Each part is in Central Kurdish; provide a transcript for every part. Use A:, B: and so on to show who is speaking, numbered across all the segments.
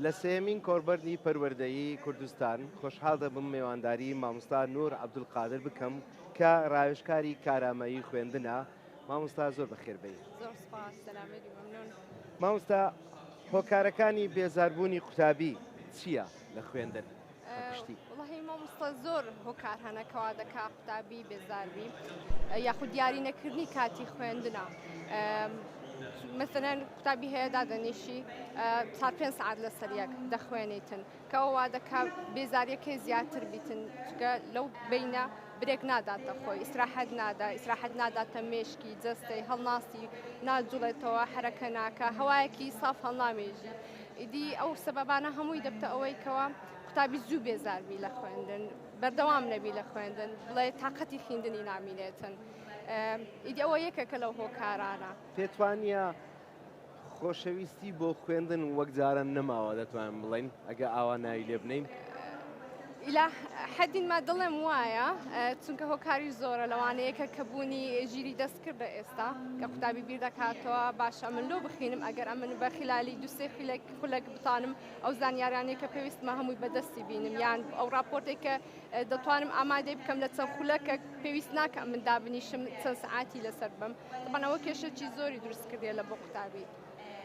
A: لە سێیەمین کۆڕبەرنی پەروەردەیی کوردستان خۆشحاڵ دەبم مێوانداری مامۆستا نور عەبدولقادر بکەم کە ڕاوێژکاری کارامەیی خوێندنە مامۆستا زۆر بەخێربێی زۆر سپاس
B: سەلامەت بی مەمنون مامۆستا
A: هۆکارەکانی بێزاربوونی قوتابی چییە لە خوێندن؟ بەگشتی. وەڵاهی
B: مامۆستا زۆر هۆکار هەنە کەوا دەکا قوتابی بێزاربی یاخود دیاری نەکردنی کاتی خوێندنە مەسەرەن قوتابی هەیە دادەنیشی تا پێ سعات لە سەریەک دەخوێنیتن کەەوەوا دەکا بێزاریەکەی زیاتر بیتن چکە لەو بینە برێک ناداتە خۆی ئیسراحەت نادا ئیسراحەت ناداتە مێشکی جستەی هەڵناسی ناجوڵێتەوە حرەکە ناکە هەوایەکی ساف هەڵنامێژی ئیدی ئەو سەبەبانە هەمووی دەبتە ئەوەی کەوا قوتابی زوو بێزار بی لە خوێندن، بەردەوام نەبی لە خوێندن، بڵێ تاقەتی خیندنی نامینێتن. ئیدی ئەوە یەکێکە لەو هۆکارانە. پێت وانییە
A: خۆشەویستی بۆ خوێندن وەک جاران نەماوە دەتوانین بڵێین ئەگە ئاوا ناوی لێ بنێین؟ ئیلا
B: حەدین ما دڵێم وایە چونکە هۆکاری زۆرە لەوانە یەکە کە بوونی ژیری دەست کردە ئێستا کە قوتابی بیر دەکاتەوە باشە من لۆ بخینم ئەگەر ئەمن بە خلالی دوسێ خولێک خولەک بتانم ئەو زانیارانەیە کە پێویستمە هەمووی بەدەستی بینم یان ئەو راپۆرتێک کە دەتوانم ئامادەی بکەم لە چەند خولەکە پێویست ناکە من دابنیشم چەند سعاتی لەسەر بم بەنەوە کێشەی زۆری دروست کردێ لە بۆ قوتابی.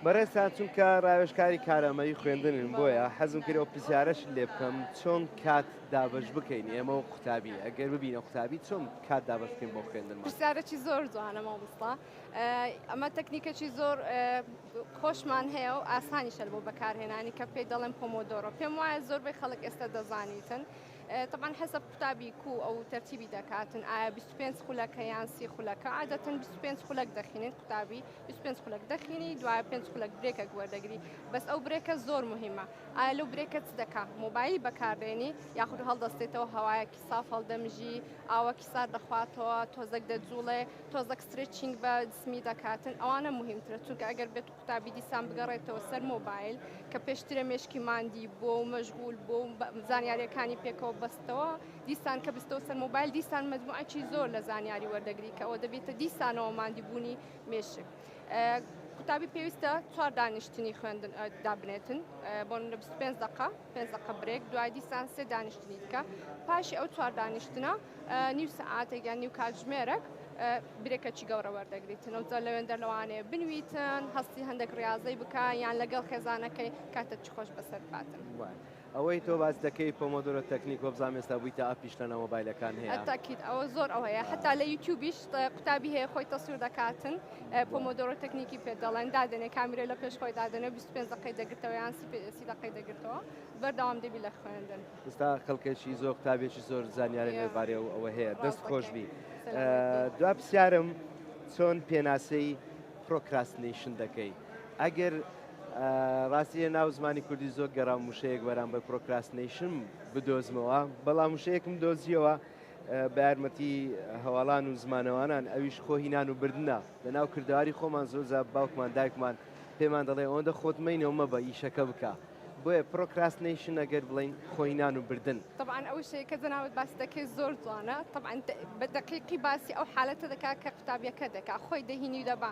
B: بەڕێزتان
A: چونکە راوێژکاری کارامەیی خوێندنن بۆیە حەزم کرد ئەو پرسیارەشت لێ بکەم چۆن کات دابەش بکەین ئێمە و قوتابی ئەگەر ببینە قوتابی چۆن کات دابەش بکەین بۆ خوێندنمان؟ پرسیارێکی زۆر جوانە
B: مامۆستا ئەمە تەکنیکێکی زۆر خۆشمان هەیە و ئاسانیشە بۆ بەکارهێنانی کە پێی دەڵێن پۆمۆدۆرۆ پێم وایە زۆربەی خەڵک ئێستا دەزانیتن طبعا حسب قوتابی کو ئەو تەرتیبی دەکاتن ئایا 25 خولەکە یان سی خولەکە عادەتن 25 خولەک دەخینن قوتابی بیست و پێنج خولەک دەخینی دوای پێنج خولەک برێکەک وەردەگری بەس ئەو برێکە زۆر مهمە ئایا لەو برێکە چ دەکا مۆبایل بەکاربێنی یاخود هەڵدەستێتەوە هەوایەکی ساف هەڵدەمژی ئاوەکی سار دەخواتەوە تۆزەک دەجوڵێ تۆزەک سترچنگ بە جسمی دەکاتن ئەوانە مهمترە چونکە ئەگەر بێت قوتابی دیسان بگەڕێتەوە سەر مۆبایل کە پێشترە مێشکی ماندی بۆ و مەژغول بۆ زانیاریەکانی پێکەوە بەستەوە دیسان کە بستەوە سەر مۆبایل دیسان مەجموعەکی زۆر لە زانیاری وەردەگری کە ئەوە دەبێتە دیسانەوە ماندیبوونی مێشک قوتابی پێویستە چوار دانیشتنی خوێندن دابنێتن بۆ لە 25 دقه پێنج دقه برێک دوای دیسان سێ دانیشتنی بکە پاشی ئەو چوار دانیشتنە نیو سعاتێک یان نیو کاتژمێرەک برێکەچی گەورە وەردەگریتنەوە جە لەوێندە لەوانەیە بنویتن هەستی هەندێک ڕاضەی بکە یان لەگەڵ خێزانەکەی کاتە چ خۆش بەسەر باتن. ئەوەی تۆ
A: باس دەکەی پۆمۆدۆرۆ تەکنیک وەبزانم ئێستا بویتە ئەپیش لە ناو مۆبایلەکان هەیە. اکید ئەوە زۆر ئەو
B: هەیە حەتا لە یوتیوبیش قوتابی هەیە خۆی تەسویر دەکاتن پۆمۆدۆرۆ تەکنیکی پێ دەڵێن دادەنێ کامیرە لە پێش خۆی دادەنێ 25 دقەی دەگرتەوە یان 30 دقەی دەگرتەوە بەردەوام دەبی لە خوێندن. ئێستا کەڵکێکی
A: زۆر قوتابێکی زۆر زانیاری لەبارەی ئەو ئەوە هەیە دەست خۆش بی. دوا پرسیارم چۆن پێناسەی پرۆکراستنەیشن دەکەی؟ ئەگەر ڕاستی لە ناو زمانی کوردی زۆر گەڕام وشەیەک بەرامبەر پرۆکراستنەیشن بدۆزمەوە، بەڵام وشەیەکم دۆزیەوە بە یارمەتی هەواڵان و زمانەوانان ئەویش خۆ هینان و بردنە. لە ناو کردەواری خۆمان زۆر جار باوکمان دایکمان پێمان دەڵێ ئەوەندە خۆت مەینە و مەبە ئیشەکە بکە. بۆیە پرۆکراستنەیشن ئەگەر بڵێین خۆ هینان و بردن. تەبعەن ئەو وشەیە کە
B: جەنابت باسی دەکەی زۆر جوانە، تەبعەن بە دەقیقی باسی ئەو حالەتە دەکا کە قوتابیەکە دەکا خۆی دەهینی و دەبا.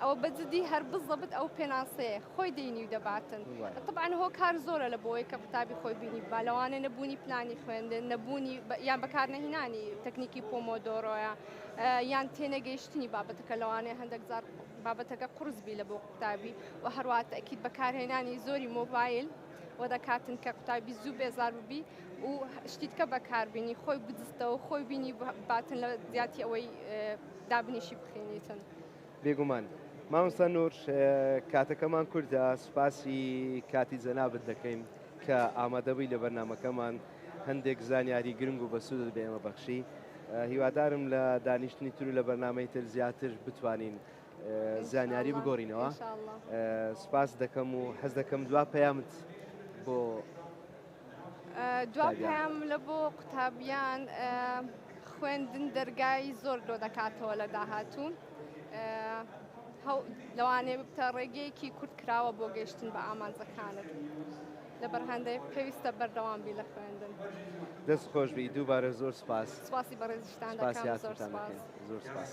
B: ئەوە بە جدی هەر بزەبت ئەو پێناسەیە خۆی دینی و دەباتن طبعاان هۆ کار زۆرە لە بۆی کە قوتابی خۆی بینی با لەوانە نەبوونی پلانی خوێندن نەبوونی یان بەکارنەهینانی تەکنیکی پۆمۆدۆرۆیە یان تێنەگەیشتنی بابەتەکە لەوانەیە هەندێک زار بابەتەکە قرسبی لە بۆ قوتابی و هەروات ئەکییت بەکارهێنانی زۆری مۆبایل و دەکاتن کە قوتابی زوو بێزار ببی و شتیتکە بەکاربیینی خۆی بدستەوە خۆی بینی باتن لە زیاتی ئەوەی دابنیشی بخێنیتن. بێگومان
A: مامۆستا نور کاتەکەمان کوردە سوپاسی کاتی جەنابت دەکەین کە ئامادەبووی لە بەرنمەکەمان هەندێک زانیاری گرنگ و بەسوودت بە ئێمە بەخشی هیوادارم لە دانیشتنی تر و لە بەرنمەی تر زیاتر بتوانین زانیاری بگۆڕینەوە سوپاس دەکەم و حەز دەکەم دوا پەیامت بۆ
B: دوا پەیام لە بۆ قوتابیان خوێندن دەرگای زۆر لۆ دەکاتەوە لە داهاتوو لەوانێ بتە ڕێگەیەکی کورت کراوە بۆ گەشتن بە ئامانجەکانت لە بەرهەندەیە پێویستە بەردەوام بی لە خوێندن دەست خۆش
A: بی دووبارە
B: زۆر سپاس
A: سپاسی بەڕێزیشتان
B: زۆر
A: سپاس.